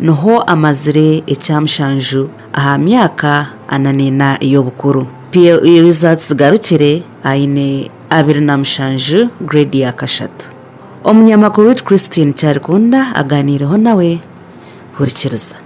Niho amazire ekya mushanju aha myaka ana n'ena ey'obukuru. PLE results zigarukire aine abiri na mushanju grade ya kashatu. Omunyamakuru waitu Christine Kyarikunda aganiireho nawe. Hurikiriza.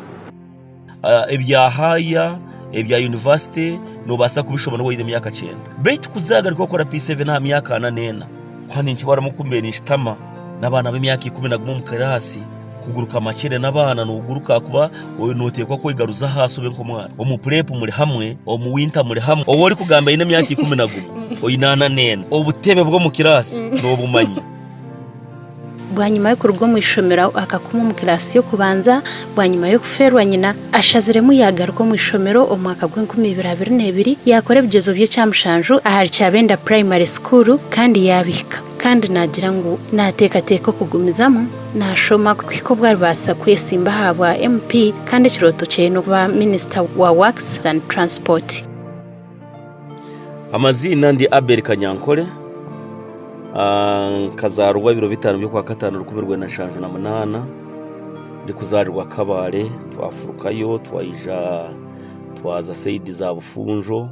Ebya haaya, ebya yunivasite noobaasa kubishoma noba oine emyaka kyenda. Beitu ku zaagaruka kukora P7 aha myaka ana n'ena, kuha ninkibaramu ku mbeire ninkitama n'abaana b'emyaka ikumi na gumwe omu kiraasi. Kuguruka amakyere n'abaana noguruka ahakuba noteekwa kwegaruza ahaasi obe nk'omwana. Omu purepu muri hamwe, omu winta muri hamwe. Ou orikugamba aine emyaka ikumi na gumwe, oine ana n'ena. Obutebe bw'omu kiraasi nobumanya. Bwanyima y'okuruga omu ishomero akakoma omu kiraasi y'okubanza, bwanyima y'okufeerwa nyina, ashaziremu yagaruka omu ishomero omu mwaka gw'enkumi ibiri abiri n'ebiri yakora ebigyezo by'ekyamushanju ahari Kyabenda Primary School kandi yabihika. Kandi naagira ngu naateekateeka okugumizamu naashoma kuhika obu aribaasa kwetsimba aha bwa MP kandi ekirooto kye n'okuba Minisita wa Works and Transport. Amaziina ndi Abel Kanyankore, nkazaarwa ebiro bitaano by'okwakataano rukumi rwenda nshanju na munaana, ndikuzaarirwa Kabale, twafurukayo twaija twaza saidi za Bufunjo,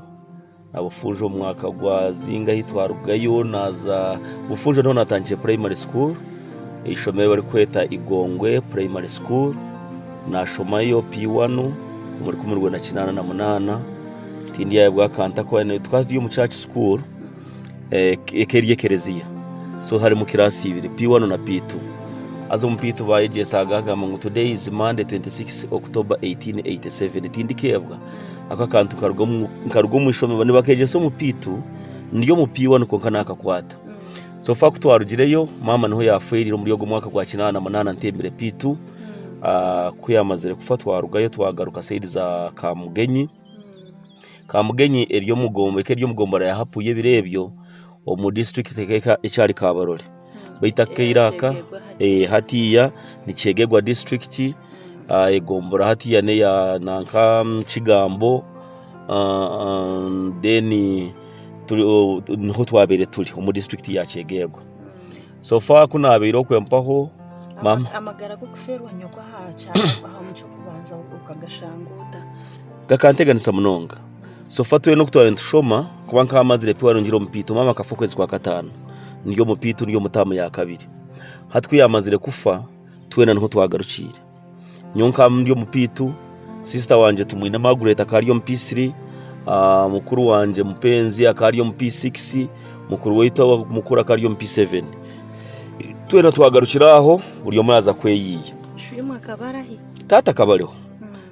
Bufuuja omu mwaka gwa zinga ahi twarugayo naaza Bufuuja niho naatandikire puraimari sukuuru, eishomero eri barikweta Igongwe puraimari sukuuru. Naashomayo P1 omu rukumi rwenda kinaana na munaana. Tindyayebwa akantu ntarikuba naine, twaba turi omu church school eka eri ekereziya. So harimu kiraasi ibiri, P1 na P2. Haza omu P2 baayegyesaaga baagamba ngu, Today is Monday 26 October 1887. Tindikeebwa. Ako akantu nkaruga omu ishomero nibakeegyesa omupiitu ndi omu P1 kwonka naakakwata. So far ku twarugireyo maama niho yaafeerire omuri ogwo mwaka gwa kinaana munaana ntembire P2. Ah, Ku yaamazire kufa twarugayo twagaruka sayidi za Kamugenyi. Kamugenyi eri omu gom- eka eri omu gombora ya Hapu y'ebiro ebyo omu disiturikiti eka ekyari Kabarole. beitu akaire aka hatiya nikyegegwa disiturikiti egombora hatiya neya nanka kigambo niho twabire turi omu disiturikiti ya kyegegwa so fa kunabaire okwe mpaho gakanteganisa munonga Sofa twena oku twaba nitushoma kuba nk'aha mazire pi warungire omupiito maama akafa okwezi kwa kataano ndi omupiito ndi omu taamu ya kabiri hati ku yaamazire kufa twena niho twagarukiire nyowe nka ndi omupiito siisita wangye tumwine Margaret akaba ari omu P3 ah, mukuru wangye mupenzi akaba ari omu P6 mukuru waitu awa- mukuru akaba ari omu P7 twena twagarukire aho buri omwe yaaza kweyiiya Shwimu akaba arahi? taata akaba ariho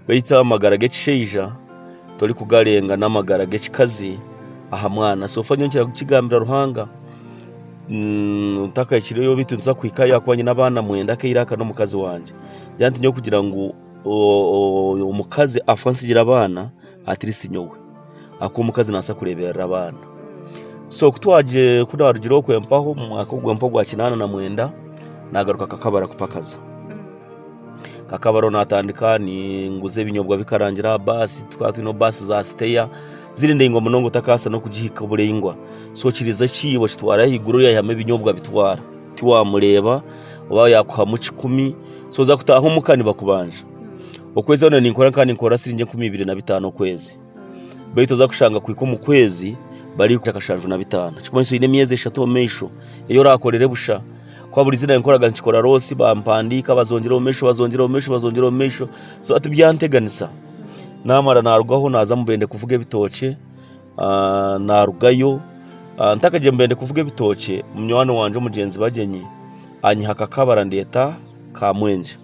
Beitu amagara g'ekishaija torikugarenga n'amagara g'ekikazi aha mwana. So far nyowe ninkira kukigambira Ruhanga ntakahikireyo beitu nituza kuhikayo ahakuba nyine abaana mwenda aka eiraka n'omukazi wangye. Ngira nti nyowe kugira ngu omukazi afwe ansigire abaana, atleast nyowe. ak'omukazi nabaasa kureeberera abaana. So ku naarugire okwo empaho omu mwaka ogwo empaho ogwa kinaana na mwenda, naagaruka kakabara kupakaza. Kakabaro naatandika ninguza ebinyobwa bikarangira aha baasi, twaba twine baasi za siteya ziri ndaingwa munonga otakabaasa n'okugihika oburaingwa. So kiriiza ekiibo kitwara ahaiguru oriya ayihamu ebinyobwa abitwara, tiwaamureeba, oba yaakuhamu kikumi, so oza kutaaha omuka nibakubanja. Okwezi hoona ninkora nkaba ninkora siringi enkumi ibiri na bitaano okwezi. Beitu oza kushanga kuhika omu kwezi bari akashanju na bitaano. Ekirikumanyisa oine emyezi eshatu omu maisho ei orakorire busha. Kuba buri izina nkoraga nikikora loosi bampandiika bazongyera omu maisho bazongyera omu maisho bazongyera omu maisho. So hati byanteganisa naamara naarugaho naaza mu Bende kuvuga ebitookye. Naarugayo ntakagiire mu Bende kuvuga ebitookye, munywani wangye omugyenzi Bagyenyi anyiha akakabara andeeta Kamwenje.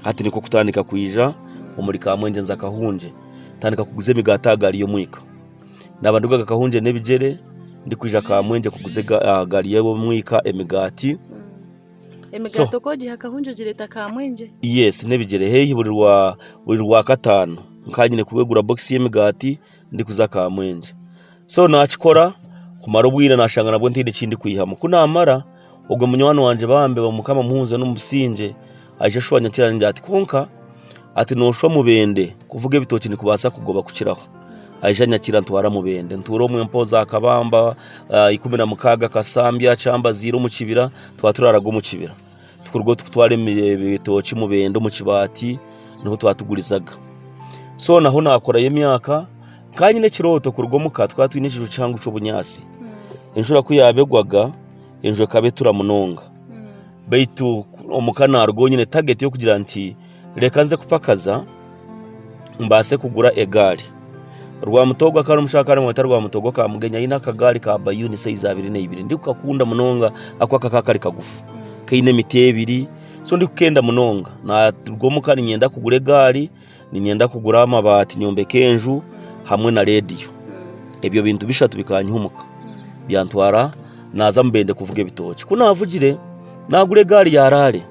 Hati nikwo kutandika kwija omuri ka Mwengyeza Kahungye. Tandika kuguza emigaati aha gaari y'omwika. Naaba nduga aha Kahungye n'ebigyere, ndikwija aha Kamwengye kuguza aha gaari y'omwika emigaati. Emigaati oku ogiiha Kahungye ogireeta Kamwengye? Yes, n'ebigyere. Haihi buri Rwakataano nkaba nyine kuba egura bokisi y'emigaati. ndikuza kamwengyye so nakikora kumara obwire nashanga nabwo ntaine ekindikwihamu kunamara ogwe munywani wangye bambi mukama amuhumuze omu busingye aije ashwanya akira ningira ati kwonka ati noshwa mubende kuvuga ebitookye nikubasa kugoba kukiraho aija anyakira antwara mubende ntuura omwe mpoozi aha kabamba ikumi na mukaaga kasambya kyambaziira omu kibira twaba turaraga omu kibira. tikuruga otu kutwara ebitookye mubende omu kibaati niho twatugurizaga so naho nakorayo emyaka kanyine ekirooto kuruga omuka twaba twine ekiju kihango ky'obunyaatsi hmm. enjura ku yaaba egwaga enju ekaba etura munonga hmm. baitu omuka naruga onyine tageti y'okugira nti Reka nze kupakaza mbaase kugura egaari. Rwamuto ogwo akaba ari omushaija kandi bamweta Rwamuto ogwo ka Mugenyi aine akagaari ka bayuni saizi abiri na ibiri. Ndikukakunda munonga ahakuba kakaba kari kagufu, kaine emiti ebiri. So ndikukenda munonga. Naruga omuka niinyenda kugura egaari, niinyenda kugura amabaati nyombeke enju hamwe na reediyo. Ebyo bintu bishatu bikanyiha omuka, byantwara naaza Mubende kuvuga ebitookye. Ku naavugire, naagura egaari ya raale.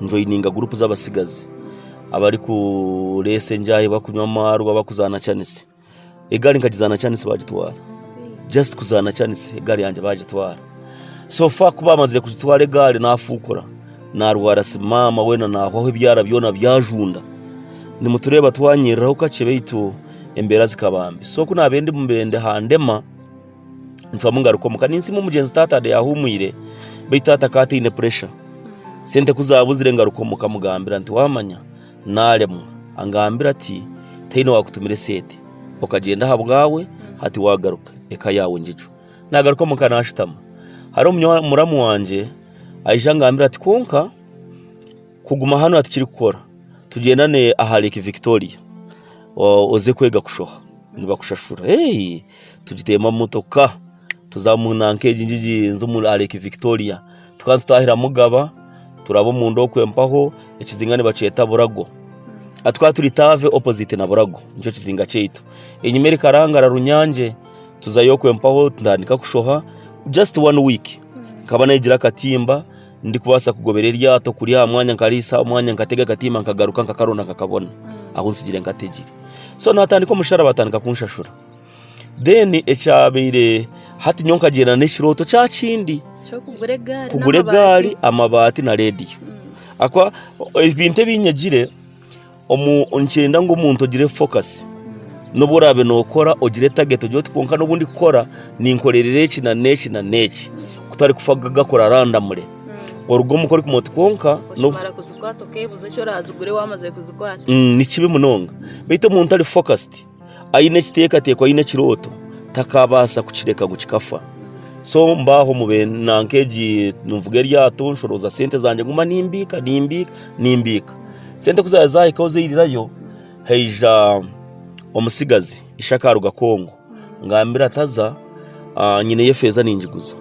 Njoyininga guruupu z'abatsigazi abarikureesa enjaahi, barikunywa amaarwa, barikuzaana kyanisi. Egaari nkagizaana kyanisi baagitwara, just kuzaana kyanisi egaari yangye baagitwara. So far ku baamazire kugitwara egaari naafuukura, naarwara si maama weena naahwaho ebyara byona byajunda. Nimutureeba twanyiriraho kakye beitu embeera zikaba mbi. So ku naabaire ndi mubende handema. Nicwamu ngaruka omuka. Ninsiima omugyenzi taata Ade yahuumwire beitu taata akaba ataine puresha. Sente ku zaabuzire ngaruka omuka mugambira nti waamanya naaremwa. Angambira ati tihaine waakutumire sente, okagyenda ahabwaawe hati waagaruka eka yaawe ngigyo. Naagaruka omuka naashutama hariho munywa muramu wangye aija angambira ati kwonka kuguma hanu aha tikirikukora tugyendane aha Lake Victoria oze kwega kushoha nibakushashura. Eeii! tugiteemu emotoka tuza omu nanka egi ngu igyenze omuri aha Lake Victoria. Tukaba nitutahira Mugaba, turaba omunda okwo empaho, ekizinga nibakyeta Burago. Ah, Tukaba turi Taave opposite na Burago, nikyo kizinga kyaitu. Enyima erikarangara Runyange, tuzayo okwo empaho ntandika kushoha, just one week nkaba nayegire akatimba. ndikubaasa kugobera eryato kuri aha mwanya nkariisa aha mwanya nkatega akatimba nkagaruka nkakarunda nkakabona ahu nsigire nkategire so naatandika omusharaba atandika kunshashura then ekyabaire hati nyowe nkagyenda n'ekirooto kya kindi ky'okugura egaari kugura n'amabaati. egaari amabaati na rediyo Ahakuba ebintu ebi nyegire Omu nikyenda ngu omuntu ogire fokasi. N'obu oraabe nookora ogire tageti ogire oti kwonka n'obu ndikukora ninkorerera eki na n'eki na n'eki kutarikufa gakora arandamure. Oruga omu ka orikumanya oti kwonka n'obu Oshobora kuzikwata okeebuuza eki oraazigure waamazire kuzikwata. Mm, ni kibi munonga beitu omuntu ari fokasiti aine ekiteekateeko aine ekirooto takaabaasa kukireka ngu kikafa. So mba aho mu na nk'egi nivuga eryato nshoroza sente zangye nguma nimbiika nimbiika nimbiika. Sente ku zaaba zaahikaho zairirayo, haija omutsigazi ishe akaaruga Congo angambira ati haza nyineyo efeeza ningiguza.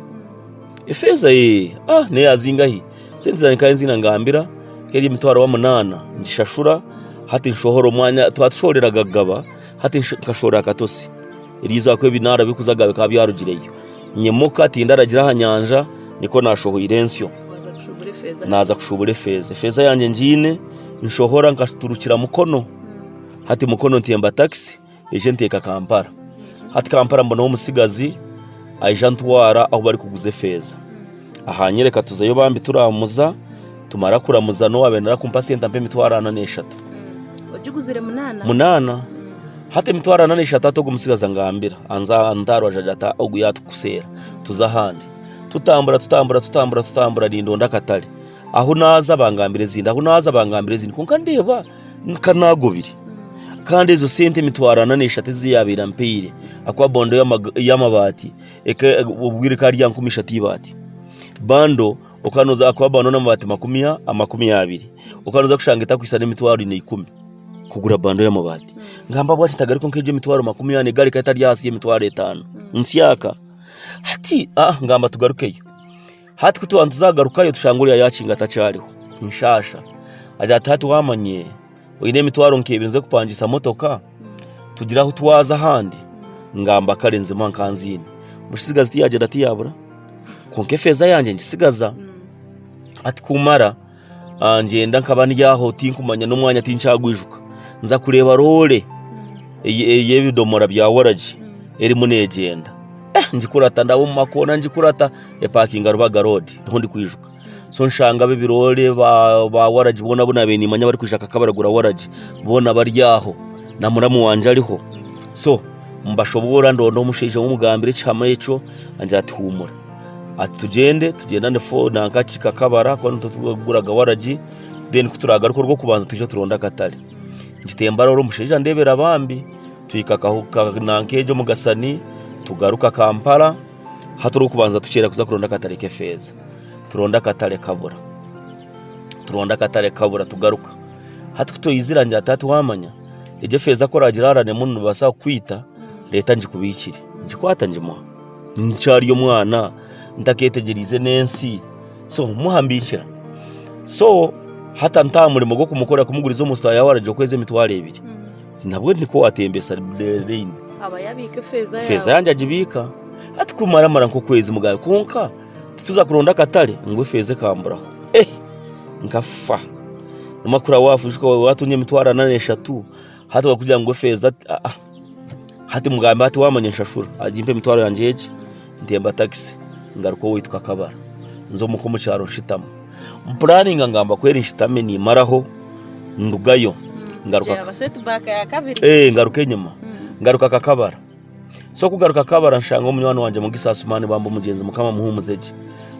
Efeeza? Eeh, neeyazinga hi? Sente zangye nkaba nziine ngambira nk'eri emitwaro omunaana ngishashura, hati nshohora omwanya twaba tushohoreraga kugaba, hati nkashohorera aha katosi. Eryo izooba ahakuba ebinaara birikuzagayo bikaba byarugireyo. Nyimuka tindaragira aha nyanja, nikwo naashohoire ensyo naaza kushuubura efeeza. Efeeza yangye ngiine, nshohora nkaturukira Mukono, hati Mukono ntemba takisi. egyo enteeka Kampala. Hati Kampala mbonaho omutsigazi aija antwara ahu barikuguza efeeza. Ahaanyoreka tuzayo bambi turaamuza, tumara kuramuza n'owaabaire naaza kumpa sente ampa emitwaro ana n'eshatu. Ogiguzire munaana? Munaana. Hati emitwaro ana n'eshatu hati ogwo mutsigazi angambira, anza anta aha rubaju agira ati, ogu yaatukuseera tuze ahandi. Tutambura tutambura tutambura tutambura nindonda akatare. Ahu naaza bangambira ezindi, ahu naaza bangambira ezindi. Kwonka ndeeba! nka naagobire kandi ezo sente emitwaro ana n'eshatu ezi yaabaire ampaire akuba bando y'amabaati obwire ekaba eri ya nkumi ishatu eibaati bando akuba bando n'amabaati makumi abiri okaba noza kushanga etakwitsana emitwaro ina ikumi kugura bando y'amabaati ngamba bwatyo tagari kwonka egyo emitwaro makumi ana egarika etari ahansi y'emitwaro etaano nsyaka hati ngamba tugarukeyo Hati ku twaaba nitugarukayo tushange oriya yaakinga atakyariho, nshaasha. Agira ati, Hati waamanya oine emitwaro nk'ebiri nze kupangiisa motoka, tugire ahu twaza ahandi ngamba kare nzimuha nkaba nziine. Mutsigazi tiyaagyenda tiyaabura, kwonka efeeza yangye ngitsigaza. Hati kumara! ngyenda nkaba ndi aho tinkumanya n'omwanya tinkyagwijuka nza kureeba roore ey'ebidoomora bya waragi erimu neegyenda ngikurata ndaba omu makoona ngikurata epakinga Rubaga roodi niho ndikwijuka so nshanga abo ebiroore ba waragi boona abu naabaire niimanya abarikwija nka barikugura waragi boona bari aho na muramu wangye ariho so mbashoboorora ndonda omushaija owu mugambira ekihama ekyo angira ati huumura. Ati tugyende, tugyenda ni fo nankaki kakabara kuba nitwe turikuguraga waragi, then ku turaagaruka orw'okubanza twije turonde akatare. Nkitemba reero omushaija andeebera bambi, twika nanka omu kasani tugaruka Kampala, hati orw'okubanza tuceera kuza kuronda akatare k'efeeza. Turonda akatare kabura, turonda akatare kabura tugaruka. Hati ku twizire angira ati hati waamanya, egyo efeeza ku oraagira haarane emwe nibaasa kukwita, reeta ngikubiikire. Ngikwata ngimuha. nkyari omwana ntaketegyereize n'ensi so muhambikira so hata ntaha murimo gw'okumukora kumuguriza omu store yaawe aragire okwezi emitwaro ebiri nabwo nikwo watembesa reyini feeza yangye agibiika hati kumaramara nk'okwezi mugamba kwonka tituza kuronda akatare ngu efeeza ekamburaho eh nkafa nobu wakuba watunga emitwaro ana n'eshatu hati bakakugira ngu efeeza ah ah. Hati mugambe ati, 'Waamanya nshashura, agimpe emitwaro yangye egi, ntemba takisi ngaruka owaitu Kakabara, nze omuka omu kyaro nshutama. Mpuraaninga ngamba ku eri nshutami niimaraho ndugayo ngaruka enyima. Ngaruka Kakabara. So kugaruka Kakabara nshanga munywani wangye Mugisa Asumaani bamba omugyenzi Mukama amuhuumuze gye.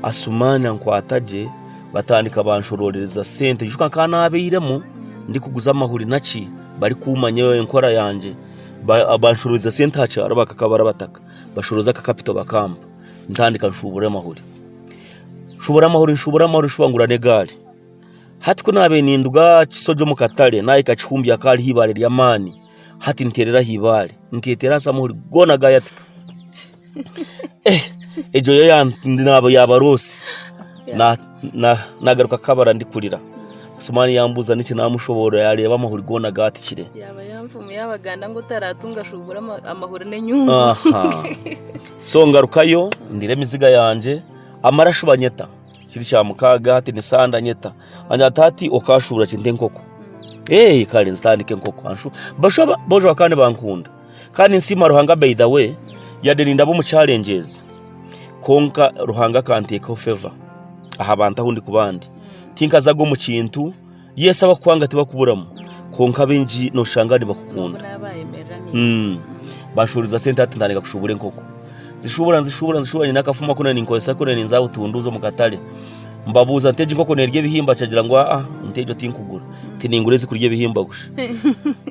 Asumaani ankwata gye batandika banshoroorereza sente. Nikijuka nk'aha naabairemu ndikuguza amahuri naki. barikumanya enkora yangye banshuruuriza sente aha kyaro bakakaba barabataka bashuuruza akakapito bakampa ntandika nshuubura amahuri nshuubura amahuri nshuubura amahuri nshuba ngura n'egaari hati ku naabaire ninduga Kisogi omu katare naahika Kihumbi hakaba hariho eibaare ry'amaani hati nteerera aha eibaare nketeera ahansi amahuri goona gaayatika Egyo yo naaba yaaba roosi naagaruka kukabara ndikurira. Esumaani yaambuuza niki naamushoboorora yaareeba amahuri goona gaatukire. Yaaba y'enfumu y'Abaganda ngu otaraatunga shuubura amahuri n'enyungu. So ngarukayo ndire emiziga yangye, amarashu banyeta. Kiri kyamukaaga hati ni sande anyeta. Angire ati hati okaashuubura ki nte enkoko? Eeh kare nzitandike enkoko. Bojo bakaba nibankunda. Kandi nsiima Ruhanga by the way yade nindaba omu challenges kwonka Ruhanga akanteekaho favour aha bantu ahu ndikuba ndi tinkazaga omu kintu yes abakukwanga tibakuburamu kwonka abaingi noshanga nibakukunda mm banshuuriza sente hati ntandika kushuubura enkoko nzishuubura nzishuubura nzishuubura nyine akafumu aku nari ninkozesa ku nari ninzaaha butunduuzi omu katare Mbabuuza nti, Egi nkoko neerya ebihimba? Akyagira ngu, Aa, nte egyo tinkugura. Nti, Ningura ezirikurya ebihimba busha.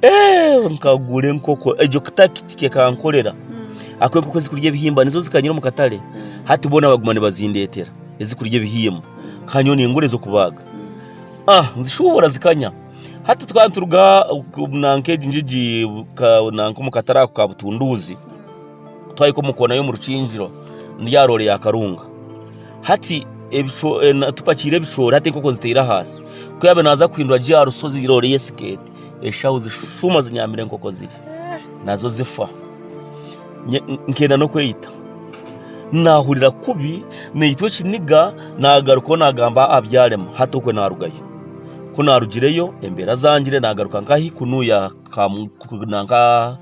Eeh, nkagura enkoko egyo kitakitiki ekankorera. Ahakuba enkoko ezirikurya ebihimba nizo zikanyira omu katare, hati boona baguma nibazindeetera ezirikurya ebihimba. Nkaba nyowe ningura ez'okubaaga. Ah, nzishuubura zikanya. Hati twaba nituruga nanka egi ngigi ka, nanka omu katare ako ka Butunduuzi. twahika omu koona y'omu rukingiro ndi aha roore ya karunga hati ebico- eh, na- tupakiire ebicoori hati enkoko nziteire ahansi ku yaabe naaza kuhindura gye aha rushozi roore ye sikeeti eshaho zishuma zinyambire enkoko ziri nazo zifa Nye- nkenda n'okweyita naahurira kubi naitwa ekiniga naagarukaho naagamba aha byarema hati okwe naarugayo ku naarugireyo embeera zangire naagaruka nk'ahaikunu ya Kamu- ku- na nka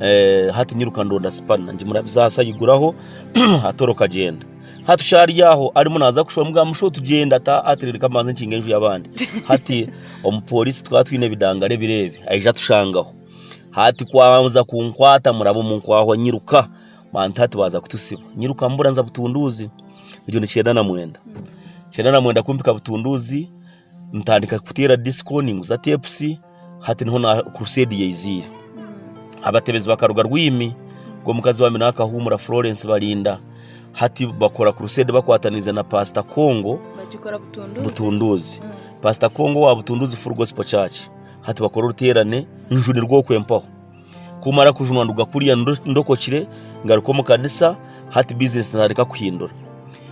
eh, hati nyiruka ndonda sipana ngimurabiza aha sayiguraho atoroka gyenda hati ushari yaho arimu naza kushoma mugamba musho tugyenda ta ati reka mbanze nkinga enju y'abandi hati omupolisi tukaba twine ebidangare ebireebi aija atushangaho hati kwaza kunkwata muraba omu nkwaho nyiruka bantu hati baza kutusiba nyiruka mbura nza butunduuzi egyo ni kyenda na mwenda kyenda na mwenda kumpika butunduuzi ntandika kuteera disiko ninguza teepusi hati niho kuruseedi yaiziire. Abatebezi bakaruga Rwiimi, ngu omukazi wa Mina akahuumura Florence Balinda, hati bakora kuruseedi bakwataniize na Paasita Kongo Butunduuzi. Paasita Kongo owa Butunduuzi Full Gospel Church, hati bakora oruteerane nju nirwo okwo empaho. Kumara kujunwa nduga kuriya ndokokire ngaruka omu kanisa hati bizinesi naatandika kuhindura.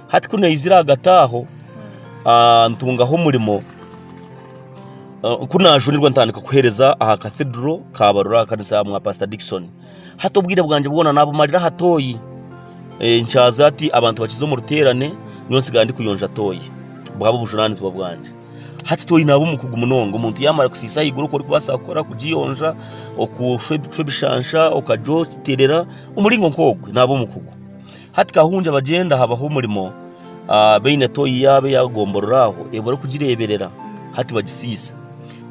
Hati ku naizire ahagati aho ah, ntungaho omurimo ah, ku naajunirwa ntandika kuheereza aha kathidro kabarura aha kanisa ya mwa pasita Dickson. Hati obwire bwangye bwona naabumarira aha tooyi Eh, nkyaza ati abantu bakiza omu ruteerane nyowe nsigara ndikuyonja tooyi buhaba obujunaanizibwa bwangye. hati twine aba omukugu munonga omuntu yamara kusiisa ahaiguru oku orikubaasa kukora kugiyonja okushwa ebishansha okagiterera omuringo nk'ogwo naaba omukugu hati kahungye abagyenda habaho omurimo ah, baine toyi yaabo eyagomborora aho ei barikugireeberera hati bagisiisa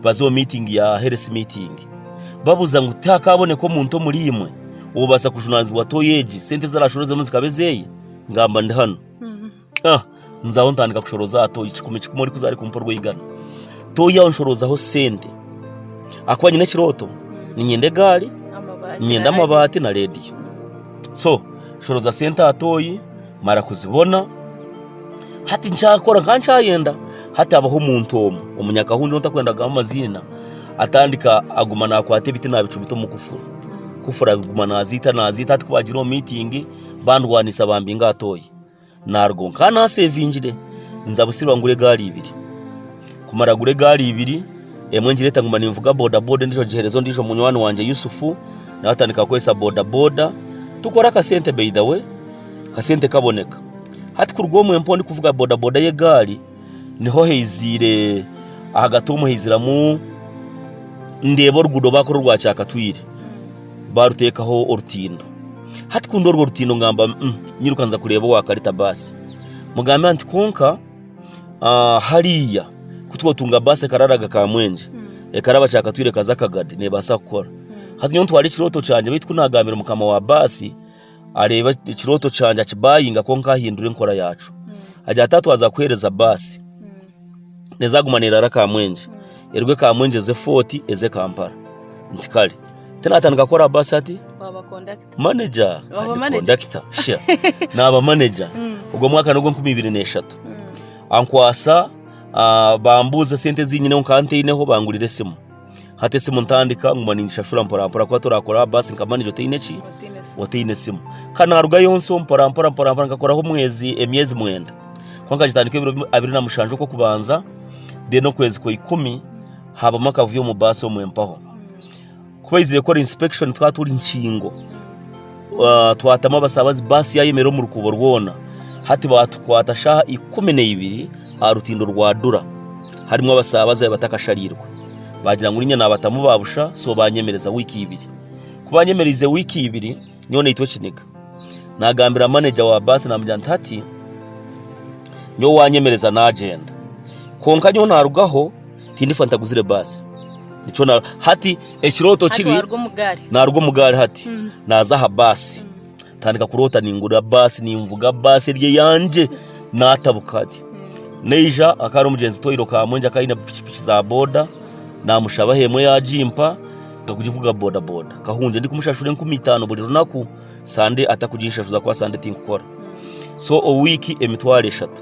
baza omu miitingi ya heresi miitingi babuuza ngu tihakaaboneka omuntu omuri imwe obaasa kujunaanizibwa toyi egi sente ezi arashorozemu zikaba ezeeye ngamba ndi hanu Ah, nzaho ntandika kushoroza aha toyi kikumi kikumi orikuza ari kumpa orw'eigana toyi aho nshorozaho sente akuba nyine ekirooto ninyenda egaari nyenda amabaati na rediyo so nshoroza sente aha toyi mara kuzibona hati nkyakora nka nkyayenda hati habaho omuntu omu omunyakahundu ou ntakwenda kugamba amaziina atandika aguma nakwata ebiti nabicumita omu kufuru kufuru aguma naziita naziita hati ku baagira omu miitingi bandwanisa bambinga aha toyi Naaruga omu ka naaseevingire, nza Busirwa ngura egaari ibiri. Kumara kugura egaari ibiri, emwe ngireeta nguma ninvuga bodaboda endiijo ngiheereza ondiijo munywani wangye Yusufu, nawe atandika kukoresa bodaboda. Tukora akasente by the way, akasente kaboneka. Hati kuruga omwo empewo ndikuvuga bodaboda y'egaari. Niho haiziire ahagati omu haiziramu ndeeba oruguudo baakora orwa kyakatwire baaruteekaho orutindo. Hati ku ndi orwo rutindo ngamba "Mm, nyiruka nza kureeba owaakarita baasi mugambe nti kwonka ah, hariya ku twotunga baasi ekararaga Kamwenje ekaraba kyakatwire ekaza Kagadi neebaasa kukora. Hati nyowe ntwara ekirooto kyangye baitu ku naagambira mukama wa baasi areeba ekirooto kyangye akibayinga kwonka ahindura enkora yaakyo. Agira ati haatwaza kuheereza baasi, nezaaguma neeraara Kamwenje, eruge Kamwenje eze Fort eze Kampala. Nti kare. Hati naatandika kukora aha baasi ati, waaba kondakita maneja, Waaba kandi manager. kondakita, sha. Naaba maneja. Ogwo mwaka n'ogwa enkumi ibiri n'eshatu. Ankwasa, ah, bambuuza esente ezi nyineho nkaba ntaineho, bangurira esimu. hati esimu ntandika nguma ningishashura mporampora kuba torakora aha baasi nka manager otaine ki otaine esimu kandi naruga yonso mporampora mporampora nkakoraho omwezi emyezi mwenda kuba nkagitandika ebiro bi- abiri na mushanja okwokubanza then okwezi kwa ikumi habamu akavuyo omu baasi omwe mpaho kuba eyizire kukora inspection twaba turi nkingo twatamu abasaabazi baasi yaayemerera omu rukuubo rwona. Hati baatukwata shaaha ikumi na ibiri aha rutindo rwa Dura. Harimu abasaabazi abu batakashariirwe. Baagira ngu niinye naabatamu ba busha, so baanyemereza wiiki ibiri. Ku baanyemereize wiiki ibiri, nyowe naitwa ekiniga. Naagambira maneja wa baasi naamugira nti, Hati nyowe waanyemereza naagyenda. Kwonka nyowe naarugaho. Tindifa ntaguzire baasi. Nikyo na hati ekirooto Hati kiri waaruga omu gaari naaruga omu gaari hati naaza aha baasi ntandika kuroota ningura baasi ninvuga baasi eri eyangye naatabuka hati naija hakaba hariho omugyenzi Toyiro Kamwenje akaba aine pikipiki za boda naamushabaho emwe yaagimpa nkakugivuga bodaboda kahungye ndikumushashura enkumi itaano buri runaku sande atakuginshahuza ahakuba sande tinkukora so omu wiiki emitwaro eshatu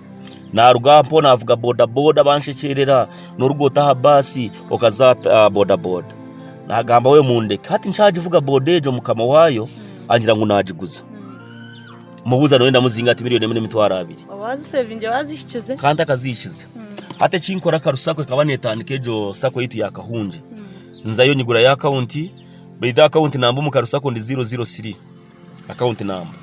Naaruga aha mpoono naavuga bodaboda banshekyeerera, nooruga ota aha baasi okaza aha bodaboda. Naagamba we mundeke. Hati nkyagivuga boda egyo mukama waayo agira ngu naagiguza. Mubuuza nooyenda muzinga ati milioni emwe n'emitwaro abiri. Ka ntakazihikize. Hati eki nkora Karu Sacco ekaba neetandika egyo sacco yaitu ya Kahungye. Nzayo nyigurayo akawunti, beitu akawunti namba omu Karu Sacco ndi ziro ziro siri. Akaunti namba.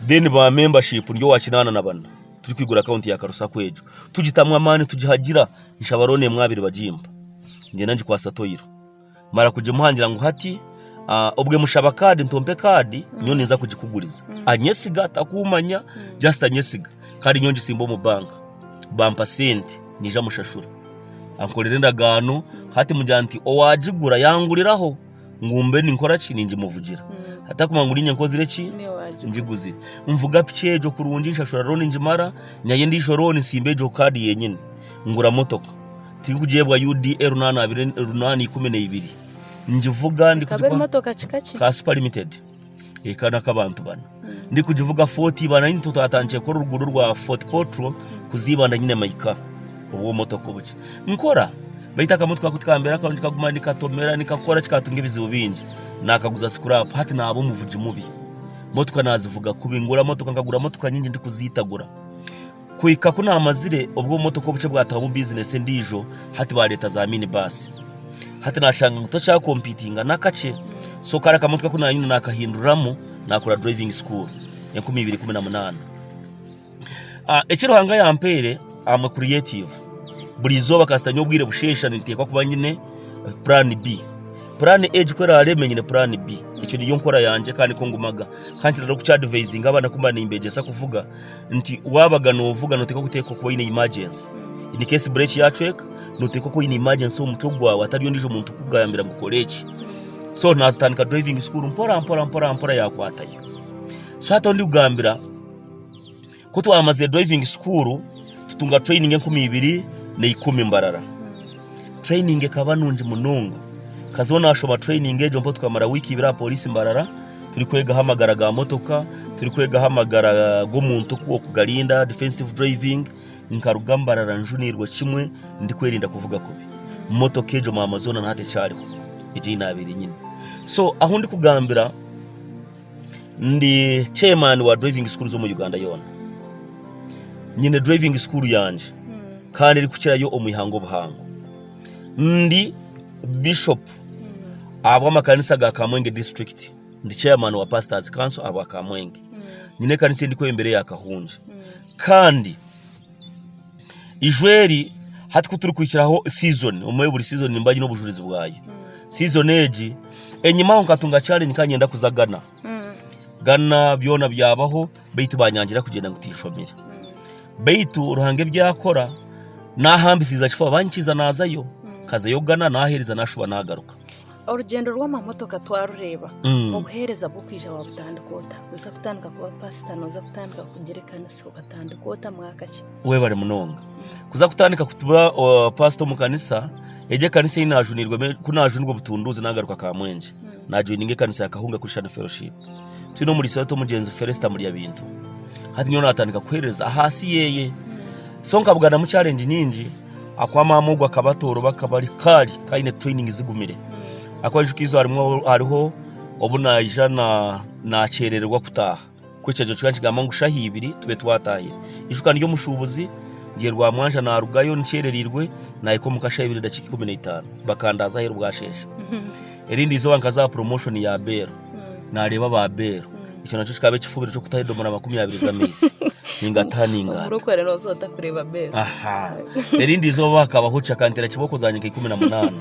Then ba membership ndi owa kinaana na bana turi kwigura akaunti ya karu sacco egyo tugitamu amaani tugihagira nshaba loan emwe abiri bagimpa ngenda ngikwasa toyiro mara kugimuha ngira ngu hati ah, obwe mushaba card ntompe card nyowe ninza kugikuguriza anyesiga takumanya just anyesiga kandi nyowe ngisimba omu bank bampa sente nyija mushashura ankorera endagaano hati mugira nti owagigura yanguriraho. ngu mbe ninkora ki ningimuvugira atakumanya ngu ninye nkozire eki Niwe waagigura. ngiguzire nvuga piki egyo kurungi nshashura rooni ngimara nyayo endiijo rooni nsimba egyo kaadi yenyini ngura motoka tirikugyebwa UDA runana abiri runana ikumi na ibiri ngivuga Ekaba eri motoka kika ki? ka super limited Eka n'ak'abantu bana. Ndikugivuga Fort Ibanda nyine tutatankire kukora oruguudo rwa Fort Portal kuza Ibanda nyine maika obw'omotoka obukye. Nkora baitu akamotoka ako tikambeera karungi kaguma nikatomera nikakora kikatunga ebizibu bingi. Naakaguza sikurapu hati naaba omuvugi mubi. Motoka naazivuga kubi. Ngura motoka nkagura motoka nyingi ndikuziitagura. Kuhika ku naamazire, obwo obumotoka obukye bwatahamu bizinesi endiijo, hati baareeta za mini baasi. Hati naashanga ngu tokyaakompiitinga n'akakye. So kare akamotoka aku naanyine naakahinduriramu naakora driving school, enkumi ibiri ikumi na munaana. Ah, eki Ruhanga yampeire, am a creative. Buri izooba kasita nyine obwire busheesha ninteekwa kuba nyine plan B. Plan A egi ku eraabe emwe nyine plan B. Egyo niyo nkora yangye kandi nikwo ngumaga. Ka nkira n'okukyadivayizinga abaana ku mba nimbeegyesa kuvuga, nti waabaga noovuga nooteekwa kuteeka kuba oine imagensi in case break yacweka nooteekwa kuba oine imagensi omu mutwe gwawe atari ondiijo muntu kukugambira ngu kora eki so naatandika driving school mpora mpora mpora mpora yaakwatayo so hati ahu ndikugambira ku twamazire driving school tutunga training enkumi ibiri na ikumi mbarara Training ekaba nungi munonga. Nkazaho nashoba training egyo mpo tukamara wiiki ibiri aha polisi Mbarara turi kwegaho amagara ga motoka, turi kwegaho amagara g'omuntu ku okugarinda, defensive driving. Nkaruga Mbarara njunirwe kimwe ndi kwerinda kuvuga kubi. Motoka egyo mama zoona naha tekyariho egi ei nabaire nyine. So ahu ndi kugambira. Ndi chairman wa driving schools omu Uganda yoona. Nyine driving school yangye kandi erikukirayo omu ihanga obuhango. Ndi bishop ahabw'amakanisa ga Kamwenge district. Ndi chairman wa pastors council ahabwa Kamwenge. Nyine ekanisa ei ndikwebembera eya Kahungye. Kandi Eijwe eri, hati ku turikwikiraho sizoni, omwe buri sizoni nimba nyine obujurizi bwayo. Sizoni egi enyimaho nkatunga challenge ka nyenda kuza Ghana. Ghana byona byabaho beitu banyangira kugyenda ngu tinshomire. Beitu Ruhanga ebi yakora, nahambisiiza kifo, aba ninkiza nazayo. Nkazayo Ghana, naheereza, nashuba nagaruka. Orugyendo rw'amamotoka twarureeba obuheereza bw'okwija wabutandika ota noza kutandika kuba pasita noza kutandika kugira ekanisa okatandika ota mwaka ki webare munonga kuza kutandika kutuba uh, pasita omu kanisa egyo ekanisa ei najunirwemu ku najunirwa obutunduuzi nagaruka kamwenje najoininga ekanisa ya kahunga christian fellowship twine omuriisa wetu omugyenzi felesta murya bintu hati nyowe natandika kuheereza ahaasi yeye so nkabuganamu challenge nyingi Ahakuba maama ogwo akaba atooroba akaba ari kaari kaine training zigumire. Ahakuba aija okaijuka harimu hariho obu naija na nakyerererwa kutaaha. Ku ekyejo kikaba nikigamba ngu shaha ibiri tube twatahire. Ijuka ndi omushubuzi ndi e Rwamwanja narugayo nkyererirwe nahika omuka shaha ibiri na dakika ikumi na itano bakandaaza aheeru bwashesha. Erindi izooba nkaza aha promotion ya beero naareeba aba beero. Ekyo nakyo kikaba ekifubiro ky'okutaho edomora makumi abiri z'amaizi ningataha ningaata. Omurokore nooza ota kureeba beero? Aha. Erindi izooba hakabaho ki akanteera kibooko za nyika ikumi na munaana.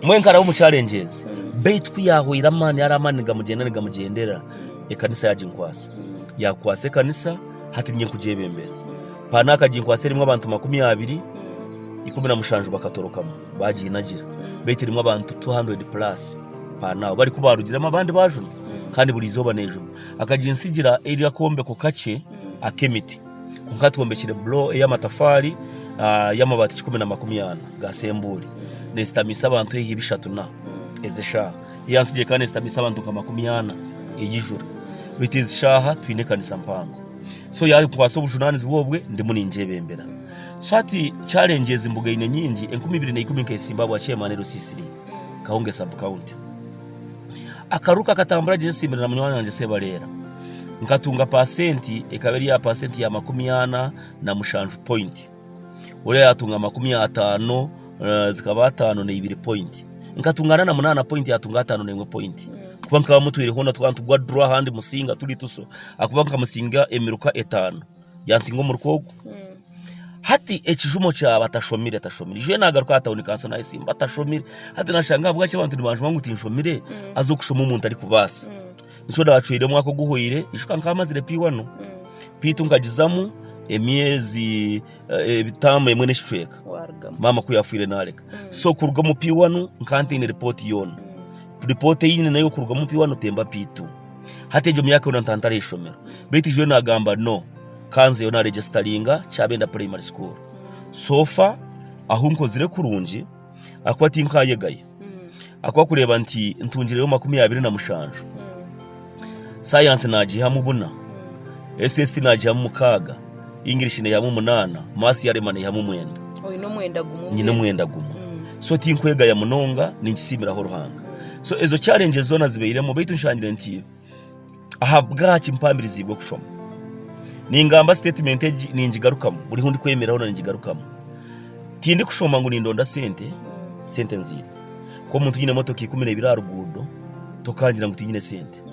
Mbwenu nkaraba omu challenges. Beitu ku yaahwaire amaani yari amaani nigamugyenda nigamugyendera, ekanisa yaginkwasa. Yakwasa ekanisa, hati niinye nkugyebembera. Paana akaginkwasa erimu abantu makumi abiri, ikumi na mushanju bakatorokamu. bagiinagira beitu erimu abantu 200 plus per now bari kubarugiremu abandi bajuna kandi buri izooba nejuna akaginsigira eri akombeko kakye ak'emiti kwonka atwombekire blo ey'amatafaari ah, y'amabaati kikumi na makumi ana ga sembuuri nezitamiisa abantu haihi bishatu na ez'eshaaha eyansigire kandi nezitamiisa abantu nka makumi ana eyijura beitu ezi shaaha twine ekanisa mpango so yankwasa obujunanizibwa obwe ndimu ningyebembera So hati challenge ezi mbuga eine nyingi enkumi ibiri na ikumi nk'esimba bwa chairman Rusisiri Kahunge sub county. Akaruru kakatambura gye nsimbire na munywani wangye Sebareera nkatunga pasenti ekaba eri ya pasenti ya makumi ana na mushanju point oriya yatunga makumi ataano eh, zikaba ataano na ibiri point nkatunga ana na munaana point yatunga ataano na emwe point kuba nkaba mutwire hoona twaba nitugwa draw ahandi musinga turi tuso akuba nkamusinga emiruka etaano Yansinga omurukwa ogu. Hati ekijumo kya batashomire tashomire. Ijwe nagaruka aha tawuni kanso naye simba tashomire. Hati nashanga ahabwaki abantu nibanjuma ngu tinshomire aze okushoma omuntu arikubaasa. Nikyo nacwire omwaka oguhwire ishwa nkaba mazire P1 beitu nkagizamu emyezi eh, taamu emwe n'ekicweka warugamu maama ku yafiire nareka so kuruga omu P1 nkaba ntaine ripooti yoona ripooti ei nyine nayo kuruga omu P1 temba P2. Hati egyo myaka yoona ntantare aheishomero beitu ijwire nagamba no kanzeyo na regisitaringa kyabenda primary school so far ahu nkozire kurungi akuba tinkayegayo akuba kureba nti ntungireyo makumi abiri na mushanju science nagihamu buna SST nagihamu mukaga English neehamu munaana, Maths yarema neehamu mwenda. Oine omwenda gumwe. Nyine omwenda gumwe. Mm. So tinkwegaya munonga, ninkisiimiraho Ruhanga. So ezo challenges zoona zibairemu baitu nshangire nti ahabwaki mpamiriziibwe kushoma. Ningamba statement egi ningigarukamu, buri hu ndikwemerera hoona ningigarukamu. Tindikushoma ngu nindonda sente, mm. sente nziine. Ku omuntu nyine emotoka ikumi neibiri aha ruguudo, tokangira ngu tinyine sente.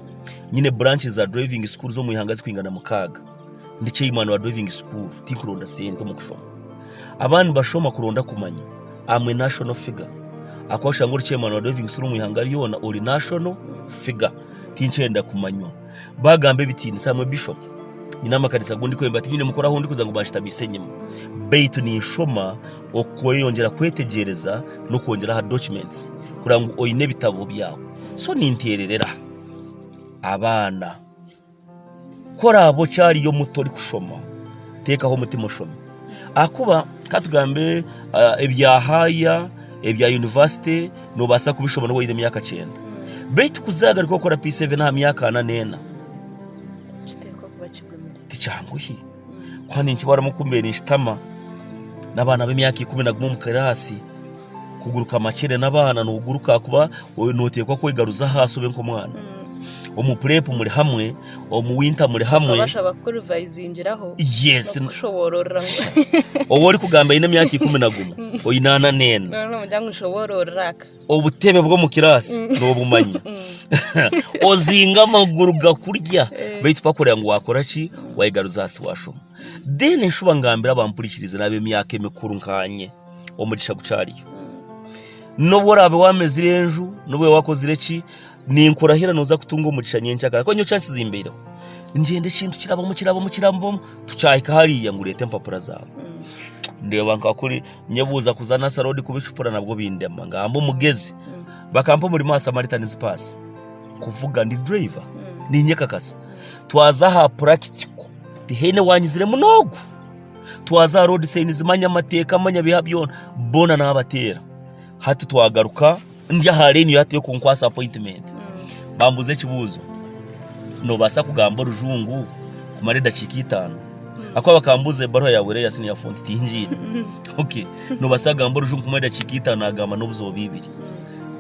Nyine branches za driving school z'omu ihanga zikwingana mukaaga. Ndi chairman wa driving school tinkuronda sente omu kushoma abaana nibashoma kuronda kumanya am a national figure ahakuba oshanga ori chairman wa driving school omu ihanga ryona ori national figure tinkyenda kumanywa bagamba ebitinisa am a bishop nyine amakanisa agu ndikwenda tinyine mukuru ahu ndikuza ngu banshutamiise enyima beitu ninshoma okweyongyera kwetegyereza n'okwongyera aha documents kureba ngu oyine ebitabo byawe so ninteererera abaana. Ku oraabe okyariyo muto orikushoma, teekaho omutima oshome. Ahakuba ka tugambe ah, ebya haaya, ebya yunivasite, noobaasa kubishoma nooba oine emyaka kyenda. Beitu kuzaagaruka kukora P7 aha myaka ana n'ena, Kiteekwa kuba kigumire. tikyangu hi. Kuba ninkibaramu ku mbeire ninkitama n'abaana b'emyaka ikumi na gumwe omu kiraasi. Kuguruka amakyere n'abaana noguruka ahakuba noteekwa kwegaruza ahaasi obe nk'omwana. Omu purepu muri hamwe, omu winta muri hamwe. Bashaba kukurivayizingiraho. Yes. Kushoboororera. Obu orikugamba aine emyaka ikumi na gumwe, oine ana n'ena. Nogira ngu nshoboororera aka. Obutebe bw'omu kiraasi mm. n'obumanya. Mm. Ozinga amaguru gakurya eh. baitu pakureba ngu wakora ki wayegaruza ahaasi washoma. Then nshuba ngambira abampurikirize n'ab'emyaka emikuru nkanye omugisha gukyariyo. N'obu oraabe waamezire enju, n'obu oraabe wakozire ki, ninkurahira nooza kutunga omugisha nyenkya kare. Ahakuba nyowe kyansizimbaireho, ngyenda ekintu kirabamu kirabamu kirabamu, tukyahika hariya ngu reeta empapura zaawe. Ndeeba nka kuri nyebuuza kuza Nasser Road kubicupura nabwo bindema. Ngamba omugezi. Bakampa omurimo aha Samaritan's Pass, kuvuga ndi driver, niinyekakasa. Twaza aha purakitiko. Tihaine wanyiziremu n'ogu. Twaza road signs, manya amateeka, manya biha byona, boona nabateera. Hati twagaruka, ndi aha line yo hati y'okunkwasa appointment. Bambuuza ekibuuzo, nobaasa kugamba orujungu kumara edakiika itaano? Ahakuba bakambuuza ebaruha yaawe eri eya senior font tingiine. Okay, nobaasa kugamba orujungu kumara edakiika itaano? Nagamba n'obuziba bw'eibiri.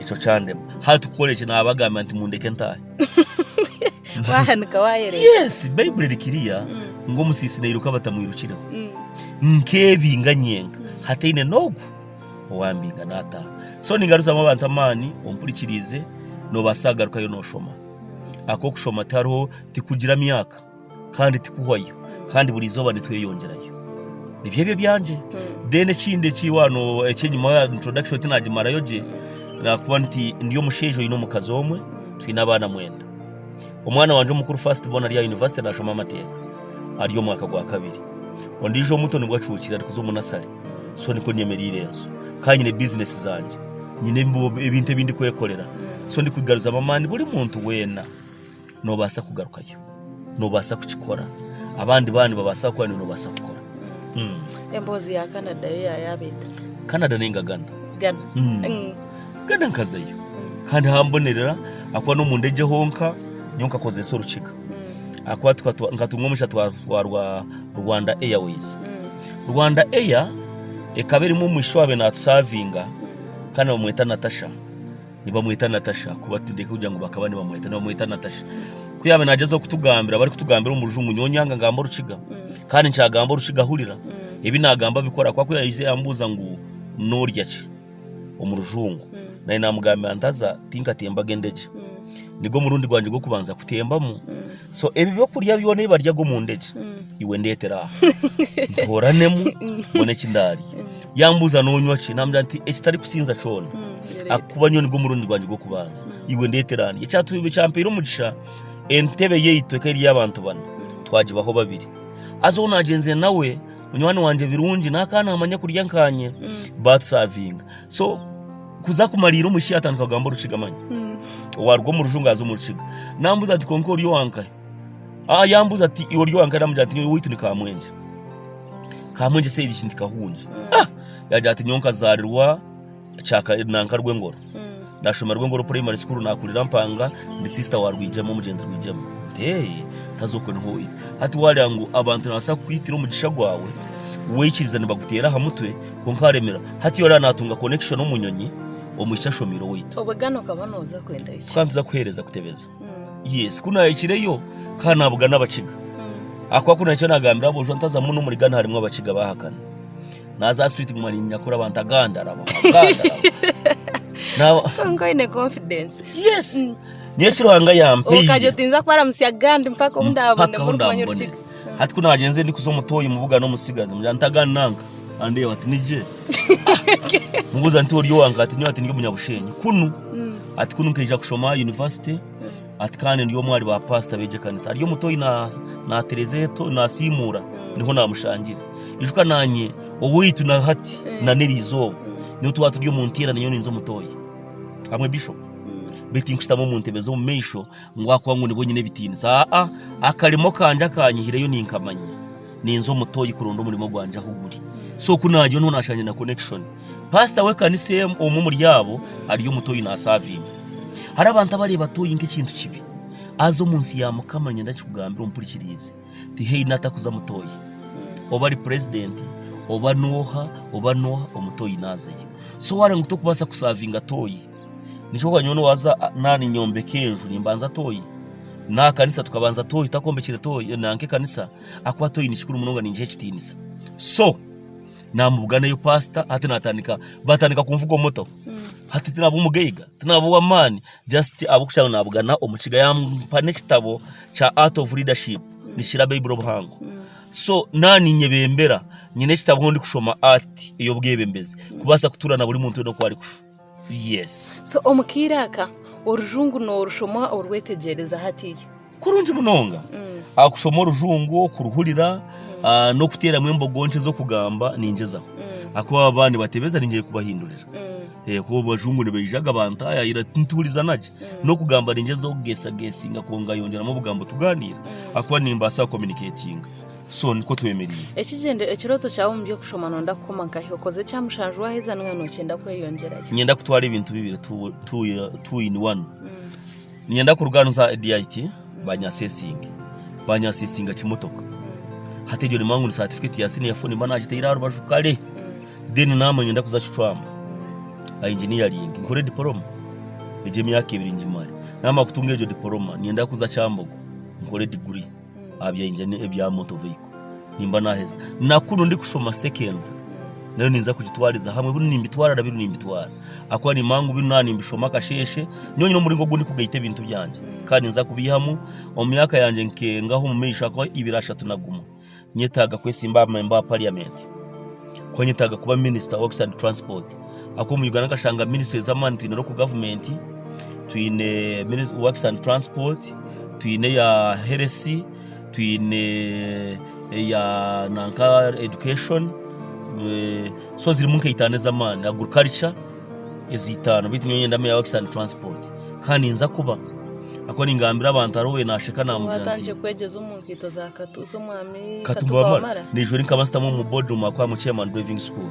Ekyo kyandema. Hati kukora eki? Nabagambira nti mundeke ntaahe. Wahanika waayereza. Yes, Baibuli eri kiriya ngu omusiisi nairuka batamwirukireho. Mm. Nkebinga nyenka hataine n'ogu owambinga naataha. So ningaruzamu abantu amaani ompurikiriize noobaasa kugarukayo nooshoma. Ahakuba okushoma tihariho tikugira myaka kandi tikuhwayo kandi buri izooba nitweyongyerayo. Nibyo ebyo ebyangye. Then ekindi eki waaba no- ekyenyima ya introduction tinaagimarayo gye, naakuba nti ndi omushaija oine omukazi omwe, twine abaana mwenda. Omwana wangye omukuru first born ari aha university nashoma amateeka ari omwaka gwa kabiri. Ondijo omuto nibwo acuukire ari kuza omu nursery. So nikwo nyemereire enso. Ka nyine business zangye. Nyine ebi- ebintu ebi ndikwekorera. So ndi kwigaruzamu amaani buri muntu wena nobasa kugarukayo. Nobasa kukikora. Abandi bana nibabasa kukora niwe nobasa kukora. Emboozi ya Canada yo yayaba eta? Canada nengagana. Gana. Mm. Mm. Nkagenda nkazayo kandi hambonerera akuba n'omunda egye honka nyowe nkakozeesa orukiga akuba nkatunga omugisha twatwarwa Rwanda Airways. Rwanda Air ekaba erimu omwishiki owabaire naatusavinga kandi nibamweta Natasha. Nibamweta Natasha akuba tindenda kugira ngu bakaba nibamweta nibamweta Natasha. Ku yaabaire naagyezaho kutugambira barikutugambira omu rujungu nyowe nyanga ngamba orukiga kandi nkyagamba orukiga hurira ebi naagamba bikore akuba ku yaabaire naija yaabuuza ngu noorya ki. omu rujungu. Naanye naamugambira nti haza tinkatembaga endegye. Nigwo murundi gwangye gw'okubanza kutembamu. So ebi by'okurya byona ebi baryaga omu ndegye, iwe ndeetera aha. Ntooranemu mbone eki ndaarya. Yaambuuza noonywa ki? Naamugira nti ekitarikusinza kyona. Ahakuba nyowe nigwo murundi gwangye gw'okubanza. Iwe ndeetera aha ndye. Ekyampaire omugisha, entebe yaitu ekaba eri ey'abantu bana, twagibaho babiri. Haza ou naagyenzire nawe... Munywani wangye birungi n'aka naamanya kurya nkaanye baatusavinga. So kuza kumariira omu shi yatandika kugamba Orukiga manya. Waaruga omu Rujungu aza omu Rukiga. Naambuuza ati konka ori owankahe? Ah, yaambuuza ati iwe ori owankahe? Naamugira nti nyowe owaitu ni Kamwenje. Kamwenje seegi ki nti Kahungi. Ah! Yaagira ati nyowe nkazaarirwa Nankarwengoro nashoma Rwengoro primary school nakurira Mpanga ndi sister wa Rwijema omugyenzi Rwijema nti haza okwe niho oyiha hati wareba ngu abantu nibabaasa kukwitira omugisha gwawe wikiriza nibaguteera aha mutwe kwonka waremera hati oraba natunga connection omu nyonyi omwishiki ashomeire owaitu tukaba nituza kuheereza kutebeza yes kunahikireyo nkaba nabugana Abakiga ahakuba kunahikire nagambira aboojo ntazamu n'omuri Ghana harimu Abakiga bahakana. naza street guma ninyakura abantu agandara konka oyine confidence yes mm. niyo kiruhanga yampeire okaje otinza kwaramusya gandi mpaka obu ndabone kumanya orukiga hati kunagenze ndi kuza omutoyi mubuga n'omusigazi mugira ntagandi nanka andeeba ati nije mubuza nti ori owanka ati nyo ati ndi omunyabushenyi kunu mm. ati kunu nkeija kushoma university Ati kandi ndi omwe ahari ba paasita b'egi ekanisa ari omuto oyi naatereza eto naasiimuura niho naamushangira ijuka naanye owaitu na hati eh. na n'erizooba niho twaba turi omu nteera niyo ninza omutoya hamwe bishopu hmm. beti nkushitama omu ntebe z'omu maisho ngu akuba ngu nibwo nyine ebitiinisa aa akarimo kangye akanyihireyo ninkamanya Ninza omu toyi kuronda omurimo gwangye ahu guri. So ku nagyo niho nashangire na connection. Pastor w'ekanisa emu omwe omuri abo ari omu toyi nasavinga. Hariho abantu abareba toyi nk'ekintu kibi. Aza omu nsi ya Mukama ninyenda nkikugambire ompurikiriize, tihaine atakuza mu toyi. Oba ari president, oba n'oha, oba n'oha, omu toyi nazayo. So ware ngu tokubasa kusavinga toyi. Nikyo kuba nyowe nowaza a- na ninyombeka enju nimbanza toyi. Naha kanisa tukabanza toyi, takombekire toyi, nanka ekanisa. akuba toyine kikuru munonga ningiha ekitiinisa so namubuganayo pasita hati natandika batandika kunvuga omuto hati tinaba omugaiga tinaba ow'amaani just ahabw'okugira ngu nabugana omukiga yampa n'ekitabo kya art of leadership nikikira baibuli obuhango so na ninyebembera nyine ekitabo ahu ndikushoma art ey'obwebembezi kubaasa kutuura na buri muntu weena oku arikushu So omu kaire aka, Orujungu noorushoma orwetegyereza hatiiya? Kurungi munonga! Kushoma Orujungu, kuruhurira, n'okuteeramu embogo nkye z'okugamba ningyezaho. Ahakuba baba nibatebeza ningira kubahindurira. Ahakuba Abajungu nibaija ga bantaayayira nituhurizana gye. N'okugamba ningyezaho kugeesageesinga kwongayongyeramu obugambo tugaaniira ahakuba nimbaasa kucommunicatinga. So nikwo twemereire. Ekigyendere, Ekirooto kyawe omu by'okushoma Nonda kukoma nkahi? Okoze ekya mushanju waaheza Niga nokyenda kweyongyerayo? Ninyenda kutwara ebintu bibiri two in one Ninyenda kurugaaniza DIT baanyasesinge Baanyasesinga kimotoka Hati egyo nimba ngu satifiketi ya siniya foo Nimba naagitaire aha rubaju kare Then naamara ninyenda kuza kicwamba Ainginiyaringi nkore dipoloma Egyo emyaka ebiri ngimare Naamara kutunga egyo dipoloma Ninyenda kuza Kyambogo nkore diguri aha byengye ni- ebya motor vehicle nimba naheza nakunu ndikushoma secondary nayo ninza kugitwariza hamwe binu nimbitwara na binu nimbitwara ahakuba nimanya ngu binu naaba nimbishoma akasheeshe nyowe nyine omuringo ogu ndikugaita ebintu byangye kandi ninza kubyihamu omu myaka yangye nke- ngaha omu maisho ahakuba ibiri ashatu naguma nyetaaga kwesimba aha memba wa parliament ahakuba nyetaaga kuba minister wa works and transport. ahabw'okuba omu Uganda nikashanga minisitule z'amaani twine Local Government, twine Works and Transport, twine eya Health, twine eya nanka Education, so zirimu nka itaano ez'amaani, Agriculture ezi itaano beitu nyowe nindamu eya Works and Transport kandi ninza kuba ahabw'okuba ningambira abantu hariho owaabaire naasheka naamubwira nti Waatandikire kwegyeza omu nkaito za Katuuzo omwami Katuba Wamala? naija ori nkaba nzitamu omu boardroom ahabw'okuba I'm a chairman driving school.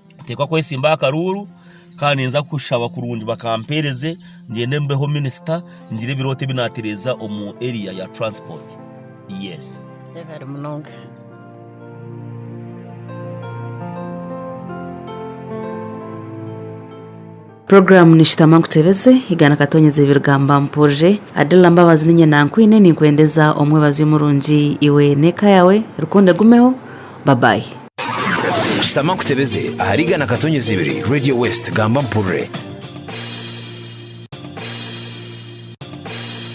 Nteekwa kwesimba aha karuuru kandi ninza kushaba kurungi bakampeereze ngyende mbeho minisita ngire ebirooto ebi naatereeza omu eriya ya turansipooti. Yesi. Webale munonga. Program nishutama nkutebeze igana katonyeze ebirigamba mpurire Adilla Mbabazi ninye nankwine ninkwendeza omwebazi omurungi iwe neka yawe rukundo egumeho bye bye. Shutama nkutebeze ahari igana katonyeze ibiri Radio West gamba mpurire.